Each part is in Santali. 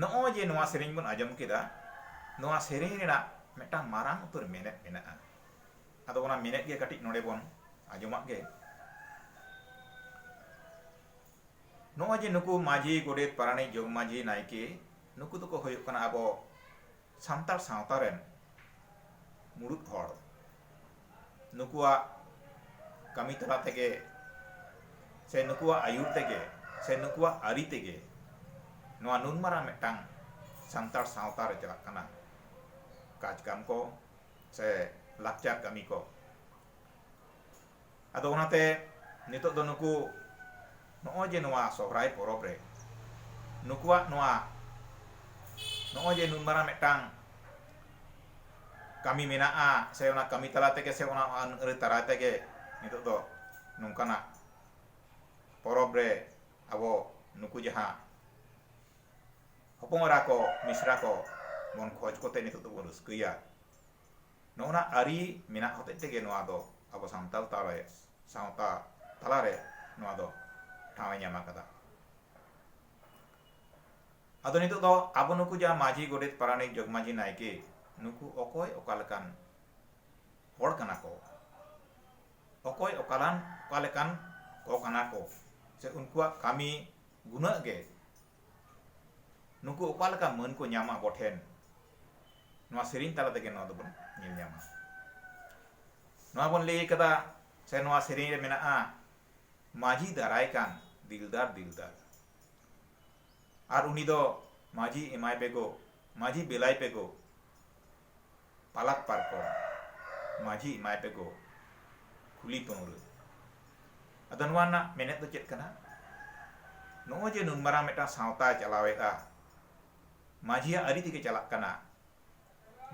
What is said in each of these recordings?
ᱱᱚᱜᱼᱚᱭ ᱡᱮ ᱱᱚᱣᱟ ᱥᱮᱨᱮᱧ ᱵᱚᱱ ᱟᱸᱡᱚᱢ ᱠᱮᱫᱟ ᱱᱚᱣᱟ ᱥᱮᱨᱮᱧ ᱨᱮᱱᱟᱜ ᱢᱤᱫᱴᱟᱝ ᱢᱟᱨᱟᱝ ᱩᱛᱟᱹᱨ ᱢᱮᱱᱮᱛ ᱢᱮᱱᱟᱜᱼᱟ ᱟᱫᱚ ᱚᱱᱟ ᱢᱮᱱᱮᱛ ᱜᱮ ᱠᱟᱹᱴᱤᱡ ᱱᱚᱰᱮ ᱵᱚᱱ ᱟᱸᱡᱚᱢᱟᱜ ᱜᱮ ᱱᱚᱜᱼᱚᱭ ᱡᱮ ᱱᱩᱠᱩ ᱢᱟᱹᱡᱷᱤ ᱜᱚᱰᱮᱛ ᱯᱟᱨᱟᱱᱤᱠ ᱡᱚᱜᱽ ᱢᱟᱹᱡᱷᱤ ᱱᱟᱭᱠᱮ ᱱᱩᱠᱩ ᱫᱚᱠᱚ ᱦᱩᱭᱩᱜ ᱠᱟᱱᱟ ᱟᱵᱚ ᱥᱟᱱᱛᱟᱲ ᱥᱟᱶᱛᱟ ᱨᱮᱱ ᱢᱩᱬᱩᱛ ᱦᱚᱲ ᱱᱩᱠᱩᱣᱟᱜ ᱠᱟᱹᱢᱤ ᱛᱟᱞᱟ ᱛᱮᱜᱮ ᱥᱮ ᱱᱩᱠᱩᱣᱟᱜ ᱟᱹᱭᱩᱨ ᱛᱮᱜᱮ ᱥᱮ ᱱᱩᱠᱩᱣᱟᱜ ᱟᱹᱨᱤ ᱛᱮᱜᱮ ᱱᱚᱣᱟ ᱱᱩᱱ ᱢᱟᱨᱟᱝ ᱢᱤᱫᱴᱟᱝ ᱥᱟᱱᱛᱟᱲ ᱥᱟᱶᱛᱟ ᱨᱮ ᱪᱟᱞᱟᱜ ᱠᱟᱱᱟ ᱠᱟᱡᱽ ᱠᱟᱢ ᱠᱚ ᱥᱮ ᱞᱟᱠᱪᱟᱨ ᱠᱟᱹᱢᱤ ᱠᱚ ᱟᱫᱚ ᱚᱱᱟᱛᱮ ᱱᱤᱛᱚᱜ ᱫᱚ ᱱᱩᱠᱩ ᱱᱚᱜᱼᱚᱭ ᱡᱮ ᱱᱚᱣᱟ ᱥᱚᱦᱨᱟᱭ ᱯᱚᱨᱚᱵᱽ ᱨᱮ ᱱᱩᱠᱩᱣᱟᱜ ᱱᱚᱣᱟ ᱱᱚᱜᱼᱚᱭ ᱡᱮ ᱱᱩᱱ ᱢᱟᱨᱟᱝ ᱢᱤᱫᱴᱟᱝ ᱠᱟᱹᱢᱤ ᱢᱮᱱᱟᱜᱼᱟ ᱥᱮ ᱚᱱᱟ ᱠᱟᱹᱢᱤ ᱛᱟᱞᱟ ᱛᱮᱜᱮ ᱥᱮ ᱚᱱᱟ ᱟᱹᱱ ᱟᱹᱨᱤ ᱫᱟᱨᱟᱭ ᱛᱮᱜᱮ ᱱᱤᱛᱚᱜ ᱫᱚ ᱱᱚᱝᱠᱟᱱᱟᱜ ᱯᱚᱨᱚᱵᱽ ᱨᱮ ᱟᱵᱚ ᱱᱩᱠᱩ ᱡᱟᱦᱟᱸ ᱦᱚᱯᱚᱱ ᱮᱨᱟ ᱠᱚ ᱢᱤᱥᱨᱟ ᱠᱚ ᱵᱚᱱ ᱠᱷᱚᱡᱽ ᱠᱚᱛᱮ ᱱᱤᱛᱚᱜ ᱫᱚᱵᱚᱱ ᱨᱟᱹᱥᱠᱟᱹᱭᱟ ᱱᱚᱜᱼᱚ ᱱᱟ ᱟᱹᱨᱤ ᱢᱮᱱᱟᱜ ᱦᱚᱛᱮᱡ ᱛᱮᱜᱮ ᱱᱚᱣᱟ ᱫᱚ ᱟᱵᱚ ᱥᱟᱱᱛᱟᱲ ᱛᱟᱞᱟᱨᱮ ᱥᱟᱶᱛᱟ ᱛᱟᱞᱟᱨᱮ ᱱᱚᱣᱟ ᱫᱚ ᱴᱷᱟᱶ ᱮ ᱧᱟᱢ ᱟᱠᱟᱫᱟ ᱟᱫᱚ ᱱᱤᱛᱚᱜ ᱫᱚ ᱟᱵᱚ ᱱᱩᱠᱩ ᱡᱟᱦᱟᱸ ᱢᱟᱹᱡᱷᱤ ᱜᱚᱰᱮᱛ ᱯᱟᱨᱟᱱᱤᱠ ᱡᱚᱜᱽᱢᱟᱹᱡᱷᱤ ᱱᱟᱭᱠᱮ ᱱᱩᱠᱩ ᱚᱠᱚᱭ ᱚᱠᱟ ᱞᱮᱠᱟᱱ ᱦᱚᱲ ᱠᱟᱱᱟ ᱠᱚ ᱚᱠᱚᱭ ᱚᱠᱟᱞᱟᱱ ᱚᱠᱟ ᱞᱮᱠᱟᱱ ᱠᱚ ᱠᱟᱱᱟ ᱠᱚ ᱥᱮ ᱩᱱᱠᱩᱣᱟᱜ ᱠᱟᱹᱢᱤ ᱜᱩᱱᱟᱹᱜ ᱜᱮ ᱱᱩᱠᱩ ᱚᱠᱟ ᱞᱮᱠᱟ ᱢᱟᱹᱱ ᱠᱚ ᱧᱟᱢᱟ ᱟᱵᱚ ᱴᱷᱮᱱ ᱱᱚᱣᱟ ᱥᱮᱨᱮᱧ ᱛᱟᱞᱟ ᱛᱮᱜᱮ ᱱᱚᱣᱟ ᱫᱚᱵᱚᱱ ᱧᱮᱞ ᱧᱟᱢᱟ ᱱᱚᱣᱟ ᱵᱚᱱ ᱞᱟᱹᱭ ᱠᱟᱫᱟ ᱥᱮ ᱱᱚᱣᱟ ᱥᱮᱨᱮᱧ ᱨᱮ ᱢᱮᱱᱟᱜᱼᱟ ᱢᱟᱹᱡᱷᱤ ᱫᱟᱨᱟᱭ ᱠᱟᱱ ᱫᱤᱞᱫᱟᱨ ᱫᱤᱞᱫᱟᱨ ᱟᱨ ᱩᱱᱤ ᱫᱚ ᱢᱟᱹᱡᱷᱤ ᱮᱢᱟᱭ ᱯᱮᱜᱚ ᱢᱟᱹᱡᱷᱤ ᱵᱮᱞᱟᱭ ᱯᱮᱜᱚ ᱯᱟᱞᱟᱠ ᱯᱟᱨᱠᱚᱢ ᱢᱟᱹᱡᱷᱤ ᱮᱢᱟᱭ ᱯᱮᱜᱚ ᱠᱷᱩᱞᱤ ᱯᱟᱹᱣᱨᱟᱹ ᱟᱫᱚ ᱱᱚᱣᱟ ᱨᱮᱱᱟᱜ ᱢᱮᱱᱮᱛ ᱫᱚ ᱪᱮᱫ ᱠᱟᱱᱟ ᱱᱚᱜᱼᱚᱭ ᱡᱮ ᱱᱩᱱ ᱢᱟᱨᱟᱝ ᱢᱤᱫᱴᱟᱝ ᱥᱟᱶᱛᱟᱭ ᱪᱟᱞᱟᱣᱮᱫᱼᱟ ᱢᱟᱹᱡᱷᱤᱭᱟᱜ ᱟᱹᱨᱤ ᱛᱮᱜᱮ ᱪᱟᱞᱟᱜ ᱠᱟᱱᱟ᱾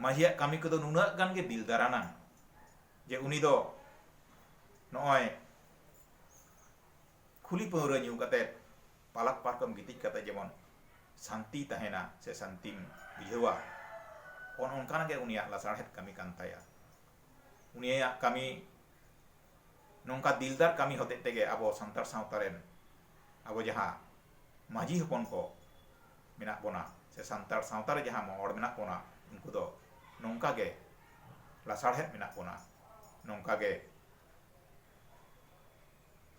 ᱢᱟᱹᱡᱷᱤᱭᱟᱜ ᱠᱟᱹᱢᱤ ᱠᱚᱫᱚ ᱱᱩᱱᱟᱹᱜ ᱜᱟᱱ ᱜᱮ ᱵᱤᱞᱫᱟᱨ ᱟᱱᱟᱝ ᱡᱮ ᱩᱱᱤ ᱫᱚ ᱱᱚᱜᱼᱚᱭ ᱠᱷᱩᱞᱤ ᱯᱟᱹᱣᱨᱟᱹ ᱧᱩ ᱠᱟᱛᱮ ᱯᱟᱞᱟᱠ ᱯᱟᱨᱠᱚᱢ ᱜᱤᱛᱤᱡ ᱠᱟᱛᱮ ᱡᱮᱢᱚᱱ ᱥᱟᱱᱛᱤᱭ ᱛᱟᱦᱮᱸᱱᱟ ᱥᱮ ᱥᱟᱱᱛᱤᱢ ᱵᱩᱡᱷᱟᱹᱣᱟ ᱚᱱ ᱚᱱᱠᱟᱱᱟᱜ ᱜᱮ ᱩᱱᱤᱭᱟᱜ ᱞᱟᱥᱟᱲᱦᱮᱫ ᱠᱟᱹᱢᱤ ᱠᱟᱱ ᱛᱟᱭᱟ᱾ ᱩᱱᱤᱭᱟᱜ ᱠᱟᱹᱢᱤ ᱱᱚᱝᱠᱟ ᱫᱤᱞᱫᱟᱨ ᱠᱟᱹᱢᱤ ᱦᱚᱛᱮᱡ ᱛᱮᱜᱮ ᱟᱵᱚ ᱥᱟᱱᱛᱟᱲ ᱥᱟᱶᱛᱟ ᱨᱮᱱ ᱟᱵᱚ ᱡᱟᱦᱟᱸ ᱢᱟᱹᱡᱷᱤ ᱦᱚᱯᱚᱱ ᱠᱚ ᱢᱮᱱᱟᱜ ᱵᱚᱱᱟ ᱥᱮ ᱥᱟᱱᱛᱟᱲ ᱥᱟᱶᱛᱟ ᱨᱮ ᱡᱟᱦᱟᱸ ᱦᱚᱲ ᱢᱮᱱᱟᱜ ᱵᱚᱱᱟ ᱩᱱᱠᱩ ᱫᱚ ᱱᱚᱝᱠᱟ ᱜᱮ ᱞᱟᱥᱟᱲᱦᱮᱫ ᱢᱮᱱᱟᱜ ᱵᱚᱱᱟ ᱱᱚᱝᱠᱟ ᱜᱮ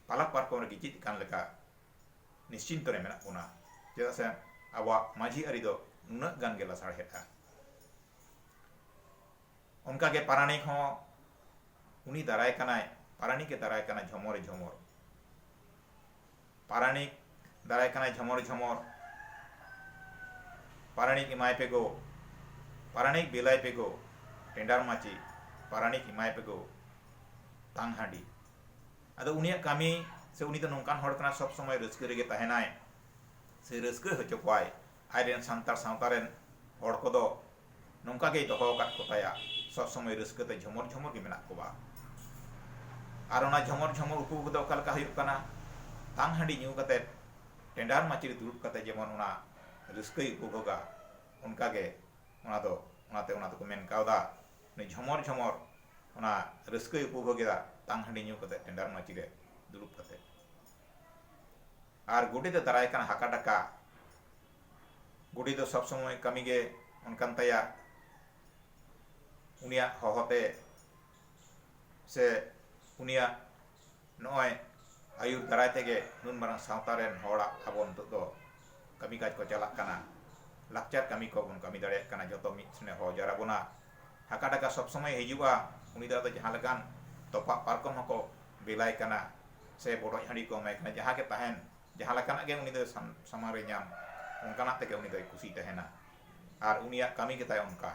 ᱯᱟᱞᱟᱠ ᱯᱟᱨᱠᱚᱢ ᱨᱮ ᱜᱤᱛᱤᱡ ᱟᱠᱟᱱ ᱞᱮᱠᱟ ᱱᱤᱥᱪᱤᱱᱛᱚ ᱨᱮ ᱢᱮᱱᱟᱜ ᱵᱚᱱᱟ ᱪᱮᱫᱟᱜ ᱥᱮ ᱟᱵᱚᱣᱟᱜ ᱢᱟᱹᱡᱷᱤ ᱟᱹᱨᱤ ᱫᱚ ᱱᱩᱱᱟᱹᱜ ᱜᱟᱱ ᱜᱮ ᱞᱟᱥᱟᱲᱦᱮᱫᱼᱟ ᱚᱱᱠᱟ ᱜᱮ ᱯᱟᱨᱟᱱᱤᱠ ᱦᱚᱸ ᱩᱱᱤ ᱫᱟᱨᱟᱭ ᱠᱟᱱᱟᱭ ᱯᱟᱨᱟᱱᱤᱠ ᱮ ᱫᱟᱨᱟᱭ ᱠᱟᱱᱟ ᱡᱷᱚᱢᱚᱨ ᱡᱷᱚᱢᱚᱨ ᱯᱟᱨᱟᱱᱤᱠ ᱫᱟᱨᱟᱭ ᱠᱟᱱᱟᱭ ᱡᱷᱚᱢᱚᱨ ᱡᱷᱚᱢᱚᱨ ᱯᱟᱨᱟᱱᱤᱠ ᱮᱢᱟᱭ ᱯᱮ ᱜᱳ ᱯᱟᱨᱟᱱᱤᱠ ᱵᱮᱞᱟᱭ ᱯᱮ ᱜᱳ ᱴᱮᱸᱰᱟᱨ ᱢᱟᱹᱪᱤ ᱯᱟᱨᱟᱱᱤᱠ ᱮᱢᱟᱭ ᱯᱮ ᱜᱳ ᱛᱟᱝ ᱦᱟᱺᱰᱤ ᱟᱫᱚ ᱩᱱᱤᱭᱟᱜ ᱠᱟᱹᱢᱤ ᱥᱮ ᱩᱱᱤ ᱫᱚ ᱱᱚᱝᱠᱟᱱ ᱦᱚᱲ ᱠᱟᱱᱟ ᱥᱚᱵ ᱥᱚᱢᱚᱭ ᱨᱟᱹᱥᱠᱟᱹ ᱨᱮᱜᱮ ᱛᱟᱦᱮᱱᱟᱭ ᱥᱮ ᱨᱟᱹᱥᱠᱟᱹ ᱦᱚᱪᱚ ᱠᱚᱣᱟᱭ ᱟᱡ ᱨᱮᱱ ᱥᱟᱱᱛᱟᱲ ᱥᱟᱶᱛᱟ ᱨᱮᱱ ᱦᱚᱲ ᱠᱚᱫᱚ ᱱᱚᱝᱠᱟ ᱜᱮᱭ ᱫᱚᱦᱚ ᱟᱠᱟᱫ ᱠᱚ ᱛᱟᱭᱟ ᱥᱚᱵ ᱥᱚᱢᱚᱭ ᱨᱟᱹᱥᱠᱟᱹ ᱛᱮ ᱡᱷᱚᱢᱚᱨ ᱡᱷᱚᱢᱚᱨ ᱜᱮ ᱢᱮᱱᱟᱜ ᱠᱚᱣᱟ ᱟᱨ ᱚᱱᱟ ᱡᱷᱚᱢᱚᱨ ᱡᱷᱚᱢᱚᱨ ᱩᱯᱩᱵᱷᱳᱜᱽ ᱫᱚ ᱚᱠᱟ ᱞᱮᱠᱟ ᱦᱩᱭᱩᱜ ᱠᱟᱱᱟ ᱛᱟᱝ ᱦᱟᱺᱰᱤ ᱧᱩ ᱠᱟᱛᱮ ᱴᱮᱸᱰᱟᱨ ᱢᱟᱹᱪᱤ ᱨᱮ ᱫᱩᱲᱩᱵ ᱠᱟᱛᱮ ᱡᱮᱢᱚᱱ ᱚᱱᱟ ᱨᱟᱹᱥᱠᱟᱹᱭ ᱩᱯᱩᱵᱷᱳᱜᱟ ᱚᱱᱠᱟ ᱜᱮ ᱚᱱᱟ ᱫᱚ ᱚᱱᱟᱛᱮ ᱚᱱᱟ ᱫᱚᱠᱚ ᱢᱮᱱ ᱠᱟᱣᱫᱟ ᱩᱱᱤ ᱡᱷᱚᱢᱚᱨ ᱡᱷᱚᱢᱚᱨ ᱚᱱᱟ ᱨᱟᱹᱥᱠᱟᱹᱭ ᱩᱯᱩᱵᱷᱳᱜᱮᱫᱟ ᱛᱟᱝ ᱦᱟᱺᱰᱤ ᱧᱩ ᱠᱟᱛᱮ ᱴᱮᱸᱰᱟᱨ ᱢᱟᱹᱪᱤ ᱨᱮ ᱫᱩᱲᱩᱵ ᱠᱟᱛᱮ ᱟᱨ ᱜᱩᱰᱤ ᱫᱚ ᱫᱟᱨᱟᱭ ᱠᱟᱱ ᱦᱟᱠᱟ ᱰᱟᱠᱟ᱾ ᱜᱩᱰᱤ ᱫᱚ ᱥᱚᱵ ᱥᱚᱢᱚᱭ ᱠᱟᱹᱢᱤ ᱜᱮ ᱚᱱᱠᱟᱱ ᱛᱟᱭᱟ᱾ ᱩᱱᱤᱭᱟᱜ ᱦᱚᱦᱚ ᱛᱮ ᱥᱮ ᱩᱱᱤᱭᱟᱜ ᱱᱚᱜᱼᱚᱭ ᱟᱹᱭᱩᱨ ᱫᱟᱨᱟᱭ ᱛᱮᱜᱮ ᱱᱩᱱ ᱢᱟᱨᱟᱝ ᱥᱟᱶᱛᱟ ᱨᱮᱱ ᱦᱚᱲᱟᱜ ᱟᱵᱚ ᱱᱤᱛᱚᱜ ᱫᱚ ᱠᱟᱹᱢᱤ ᱠᱟᱡᱽ ᱠᱚ ᱪᱟᱞᱟᱜ ᱠᱟᱱᱟ᱾ ᱞᱟᱠᱪᱟᱨ ᱠᱟᱹᱢᱤ ᱠᱚ ᱵᱚᱱ ᱠᱟᱹᱢᱤ ᱫᱟᱲᱮᱭᱟᱜ ᱠᱟᱱᱟ᱾ ᱡᱚᱛᱚ ᱢᱤᱫ ᱴᱷᱮᱱᱮ ᱦᱚᱦᱚ ᱡᱟᱣᱨᱟ ᱵᱚᱱᱟ᱾ ᱦᱟᱠᱟ ᱰᱟᱠᱟ ᱥᱚᱵ ᱥᱚᱢᱚᱭᱮ ᱦᱤᱡᱩᱜᱼᱟ᱾ ᱩᱱᱤ ᱫᱚ ᱟᱫᱚ ᱡᱟᱦᱟᱸ ᱞᱮᱠᱟᱱ ᱛᱚᱯᱟᱜ ᱯᱟᱨᱠᱚᱢ ᱦᱚᱸᱠᱚ ᱵᱮᱞᱟᱭ ᱠᱟᱱᱟ᱾ ᱥᱮ ᱵᱚᱰᱚᱡ ᱦᱟᱺᱰᱤ ᱠᱚ ᱮᱢᱟᱭ ᱠᱟᱱᱟ ᱡᱟᱦᱟᱸ ᱜᱮ ᱛᱟᱦᱮᱱ ᱡᱟᱦᱟᱸ ᱞᱮᱠᱟᱱᱟᱜ ᱜᱮ ᱩᱱᱤ ᱫᱚ ᱥᱟᱢᱟᱝ ᱨᱮ ᱧᱟᱢ ᱚᱱᱠᱟᱱᱟᱜ ᱛᱮᱜᱮ ᱩᱱᱤ ᱫᱚᱭ ᱠᱩᱥᱤ ᱛᱟᱦᱮᱱᱟ ᱟᱨ ᱩᱱᱤᱭᱟᱜ ᱠᱟᱹᱢᱤ ᱜᱮᱛᱟᱭ ᱚᱱᱠᱟ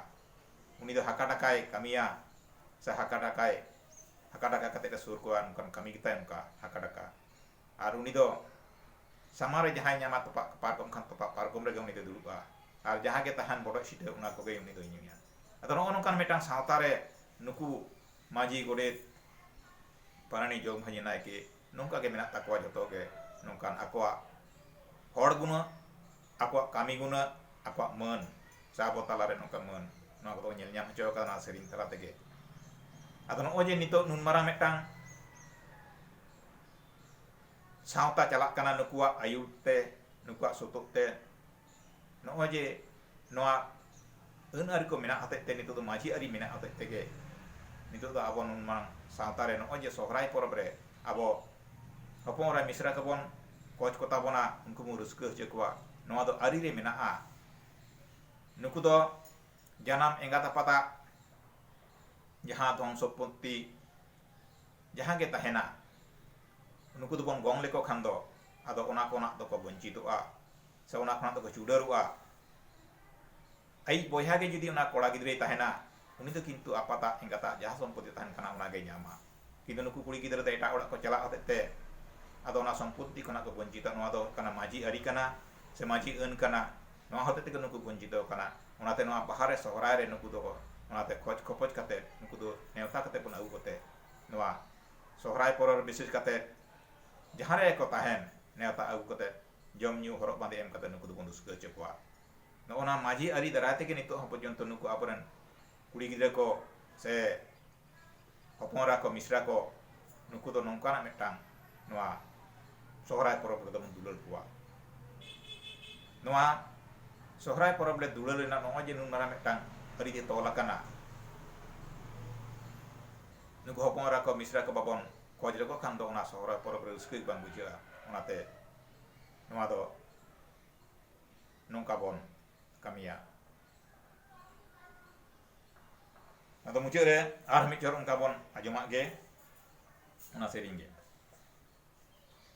ᱩᱱᱤ ᱫᱚ ᱦᱟᱠᱟ ᱰᱟᱠᱟᱭ ᱠᱟᱹᱢᱤᱭᱟ ᱥᱮ ᱦᱟᱠᱟ ᱰᱟᱠᱟᱭ ᱦᱟᱠᱟ ᱰᱟᱠᱟ ᱠᱟᱛᱮ ᱮ ᱥᱩᱨ ᱠᱚᱣᱟ ᱚᱱᱠᱟᱱ ᱠᱟᱹᱢᱤ ᱜᱮᱛᱟᱭ ᱚᱱᱠᱟ ᱦᱟᱠᱟ ᱰᱟᱠᱟ ᱟᱨ ᱩᱱᱤ ᱫᱚ ᱥᱟᱢᱟᱝ ᱨᱮ ᱡᱟᱦᱟᱸᱭ ᱧᱟᱢᱟ ᱛᱚᱯᱟᱜ ᱯᱟᱨᱠᱚᱢ ᱠᱷᱟᱱ ᱛᱚᱯᱟᱜ ᱯᱟᱨᱠᱚᱢ ᱨᱮᱜᱮ ᱩᱱᱤ ᱫᱚᱭ ᱫᱩᱲᱩᱵᱼᱟ ᱟᱨ ᱡᱟᱦᱟᱸ ᱜᱮ ᱛᱟᱦᱮᱱ ᱵᱚᱰᱚᱡ ᱥᱤᱴᱷᱟᱹ ᱚᱱᱟ ᱠᱚᱜᱮ ᱩᱱᱤ ᱫᱚᱭ ᱧᱩᱭᱟ ᱟᱫᱚ ᱱᱚᱜᱼᱚ ᱱᱚᱝᱠᱟᱱ ᱢᱤᱫᱴᱟᱝ ᱥᱟᱶᱛᱟ ᱨᱮ ᱱᱩᱠᱩ ᱢᱟᱹᱡᱷᱤ ᱜᱚᱰᱮᱛ ᱯᱟᱨᱟᱱᱤᱠ ᱡᱚᱜᱽ ᱢᱟᱹᱡᱷᱤ ᱱᱟᱭᱠᱮ ᱱᱚᱝᱠᱟ ᱜᱮ ᱢᱮᱱᱟᱜ ᱛᱟᱠᱚᱣᱟ ᱡᱚᱛᱚ ᱜᱮ ᱱᱚᱝᱠᱟᱱ ᱟᱠᱚᱣᱟᱜ ᱦᱚᱲ ᱜᱩᱱᱟᱹᱜ ᱟᱠᱚᱣᱟᱜ ᱠᱟᱹᱢᱤ ᱜᱩᱱᱟᱹᱜ ᱟᱠᱚᱣᱟᱜ ᱢᱟᱹᱱ ᱥᱮ ᱟᱵᱚ ᱛᱟᱞᱟ ᱨᱮ ᱱᱚᱝᱠᱟᱱ ᱢᱟᱹᱱ ᱱᱚᱣᱟ ᱠᱚᱫᱚ ᱵᱚᱱ ᱧᱮᱞ ᱧᱟᱢ ᱦᱚᱪᱚ ᱟᱠᱟᱫᱟ ᱱᱚᱣᱟ ᱥᱮᱨᱮᱧ ᱛᱟᱞᱟ ᱛᱮᱜᱮ ᱟᱫᱚ ᱱᱚᱜᱼᱚᱭ ᱡᱮ ᱱᱤᱛᱚᱜ ᱱᱩᱱ ᱢᱟᱨᱟᱝ ᱢᱤᱫᱴᱟᱝ ᱥᱟᱶᱛᱟ ᱪᱟᱞᱟᱜ ᱠᱟᱱᱟ ᱱᱩᱠᱩᱣᱟᱜ ᱟᱹᱭᱩᱨ ᱛᱮ ᱱᱩᱠᱩᱣᱟᱜ ᱥᱩᱛᱩᱜ ᱛᱮ ᱱᱚᱜᱼᱚᱭ ᱡᱮ ᱱᱚᱣᱟ ᱟᱹᱱ ᱟᱹᱨᱤ ᱠᱚ ᱢᱮᱱᱟᱜ ᱦᱚᱛᱮᱡ ᱛᱮ ᱱᱤᱛᱚᱜ ᱫᱚ ᱢᱟᱹᱡᱷᱤ ᱟᱹᱨᱤ ᱢᱮᱱᱟᱜ ᱦᱚᱛᱮᱡ ᱛᱮᱜᱮ ᱱᱤᱛᱚᱜ ᱫᱚ ᱟᱵᱚ ᱱᱩᱱ ᱢᱟᱨᱟᱝ ᱥᱟᱶᱛᱟ ᱨᱮ ᱱᱚᱜᱼᱚᱭ ᱡᱮ ᱥᱚᱦᱨᱟᱭ ᱯᱚᱨᱚᱵᱽ ᱨᱮ ᱟᱵᱚ ᱦᱚᱯᱚᱱ ᱮᱨᱟ ᱢᱤᱥᱨᱟ ᱠᱚᱵᱚᱱ ᱠᱚᱪ ᱠᱚᱛᱟ ᱵᱚᱱᱟ ᱩᱱᱠᱩ ᱵᱚᱱ ᱨᱟᱹᱥᱠᱟᱹ ᱦᱚᱪᱚ ᱠᱚᱣᱟ ᱱᱚᱣᱟ ᱫᱚ ᱟᱹᱨᱤ ᱨᱮ ᱢᱮᱱᱟᱜᱼᱟ ᱱᱩᱠᱩ ᱫᱚ ᱡᱟᱱᱟᱢ ᱮᱸᱜᱟᱛ ᱟᱯᱟᱛᱟᱜ ᱡᱟᱦᱟᱸ ᱫᱷᱚᱱ ᱥᱚᱢᱯᱚᱛᱛᱤ ᱡᱟᱦᱟᱸ ᱜᱮ ᱛᱟᱦᱮᱱᱟ ᱱᱩᱠᱩ ᱫᱚᱵᱚᱱ ᱜᱚᱝ ᱞᱮᱠᱚ ᱠᱷᱟᱱ ᱫᱚ ᱟᱫᱚ ᱚᱱᱟ ᱠᱚ ᱨᱮᱱᱟᱜ ᱫᱚᱠᱚ ᱵᱚᱧᱪᱤᱛᱚᱜᱼᱟ ᱥᱮ ᱚᱱᱟ ᱠᱷᱚᱱᱟᱜ ᱫᱚᱠᱚ ᱪᱩᱰᱟᱹᱨᱚᱜᱼᱟ ᱟᱭᱤᱡ ᱵᱚᱭᱦᱟ ᱜᱮ ᱡᱩᱫᱤ ᱚᱱᱟ ᱠᱚᱲᱟ ᱜᱤᱫᱽᱨᱟᱹᱭ ᱛᱟᱦᱮᱱᱟ ᱩᱱᱤ ᱫᱚ ᱠᱤᱱᱛᱩ ᱟᱯᱟᱛᱟᱜ ᱮᱸᱜᱟᱛᱟᱜ ᱡᱟᱦᱟᱸ ᱥᱚᱢᱯᱚᱛᱤ ᱛᱟᱦᱮᱱ ᱠᱟᱱᱟ ᱚᱱᱟ ᱜᱮᱭ ᱧᱟᱢᱟ ᱠᱤᱱᱛᱩ ᱱᱩᱠᱩ ᱠᱩᱲᱤ ᱜᱤᱫᱽᱨᱟᱹ ᱫᱚ ᱮᱴᱟᱜ ᱚᱲᱟᱜ ᱠᱚ ᱪᱟᱞᱟᱜ ᱦᱚᱛᱮᱡ ᱛᱮ ᱟᱫᱚ ᱚᱱᱟ ᱥᱚᱢᱯᱚᱛᱤ ᱠᱷᱚᱱᱟᱜ ᱠᱚ ᱵᱚᱧᱪᱤᱛᱚ ᱱᱚᱣᱟ ᱫᱚ ᱦᱩᱭᱩᱜ ᱠᱟᱱᱟ ᱢᱟᱹᱡᱷᱤ ᱟᱹᱨᱤ ᱠᱟᱱᱟ ᱥᱮ ᱢᱟᱹᱡᱷᱤ ᱟᱹᱱ ᱠᱟᱱᱟ ᱱᱚᱣᱟ ᱦᱚᱛᱮᱡ ᱛᱮᱜᱮ ᱱᱩᱠᱩ ᱵᱚᱧᱪᱤᱛᱚ ᱠᱟᱱᱟ ᱚᱱᱟᱛᱮ ᱱᱚᱣᱟ ᱵᱟᱦᱟ ᱨᱮ ᱥᱚᱦᱨᱟᱭ ᱨᱮ ᱱᱩᱠᱩ ᱫᱚ ᱚᱱᱟᱛᱮ ᱠᱷᱚᱡᱽ ᱠᱷᱚᱯᱚᱡᱽ ᱠᱟᱛᱮ ᱱᱩᱠᱩ ᱫᱚ ᱱᱮᱣᱛᱟ ᱠᱟᱛᱮ ᱵᱚᱱ ᱟᱹᱜᱩ ᱠᱚᱛᱮ ᱱᱚᱣᱟ ᱥᱚᱦᱨᱟᱭ ᱯᱚᱨᱚᱵᱽ ᱨᱮ ᱵᱤᱥᱮᱥ ᱠᱟᱛᱮ ᱡᱟᱦᱟᱸ ᱨᱮᱜᱮ ᱠᱚ ᱛᱟᱦᱮᱱ ᱱᱮᱣᱛᱟ ᱟᱹᱜᱩ ᱠᱟᱛᱮ ᱡᱚᱢ ᱧᱩ ᱦᱚᱨᱚᱜ ᱵᱟᱸᱫᱮ ᱮᱢ ᱠᱟᱛᱮ ᱱᱩᱠᱩ ᱫᱚᱵᱚᱱ ᱨᱩᱥᱠᱟᱹ ᱦᱚᱪᱚ ᱠᱚᱣᱟ ᱱᱚᱜᱼᱚ ᱱᱟ ᱢᱟᱹᱡᱷᱤ ᱟᱹᱨᱤ ᱫᱟᱨᱟᱭ ᱛᱮᱜᱮ ᱱᱤᱛᱚᱜ ᱦᱚᱸ ᱯᱚᱨᱡᱚᱱᱛᱚ ᱱᱩᱠᱩ ᱟᱵᱚᱨᱮᱱ ᱠᱩᱲᱤ ᱜᱤᱫᱽᱨᱟᱹ ᱠᱚ ᱥᱮ ᱦᱚᱯᱚᱱ ᱮᱨᱟ ᱠᱚ ᱢᱤᱥᱨᱟ ᱠᱚ ᱱᱩᱠᱩ ᱫᱚ ᱱᱚᱝᱠᱟᱱᱟᱜ ᱢᱤᱫᱴᱟᱝ ᱱᱚᱣᱟ ᱥᱚᱦᱨᱟᱭ ᱯᱚᱨᱚᱵᱽ ᱨᱮᱫᱚ ᱵᱚᱱ ᱫᱩᱞᱟᱹᱲ ᱠᱚᱣᱟ ᱱᱚᱣᱟ ᱥᱚᱦᱨᱟᱭ ᱯᱚᱨᱚᱵᱽ ᱨᱮ ᱫᱩᱞᱟᱹᱲ ᱨᱮᱱᱟᱜ ᱱᱚᱜᱼᱚᱭ ᱡᱮ ᱱᱩᱱ ᱢᱟᱨᱟᱝ ᱢᱤᱫᱴᱟᱝ ᱟᱹᱨᱤ ᱡᱮ ᱛᱚᱞ ᱟᱠᱟᱱᱟ ᱱᱩᱠᱩ ᱦᱚᱯᱚᱱ ᱮᱨᱟ ᱠᱚ ᱢᱤᱥᱨᱟ ᱠᱚ ᱵᱟᱵᱚᱱ ᱠᱷᱚᱡᱽ ᱞᱮᱠᱚ ᱠᱷᱟᱱ ᱫᱚ ᱚᱱᱟ ᱥᱚᱦᱨᱟᱭ ᱯᱚᱨᱚᱵᱽ ᱨᱮ ᱨᱟᱹᱥᱠᱟᱹ ᱜᱮ ᱵᱟᱝ ᱵᱩᱡᱷᱟᱹᱜᱼᱟ ᱚᱱᱟᱛᱮ ᱱᱚᱣᱟ ᱫᱚ ᱱᱚᱝᱠᱟ ᱵᱚᱱ ᱠᱟᱹᱢᱤᱭᱟ ᱟᱫᱚ ᱢᱩᱪᱟᱹᱫ ᱨᱮ ᱟᱨ ᱢᱤᱫ ᱪᱚᱨ ᱚᱱᱠᱟ ᱵᱚᱱ ᱟᱸᱡᱚᱢᱟᱜ ᱜᱮ ᱚᱱᱟ ᱥᱮᱨᱮᱧ ᱜᱮ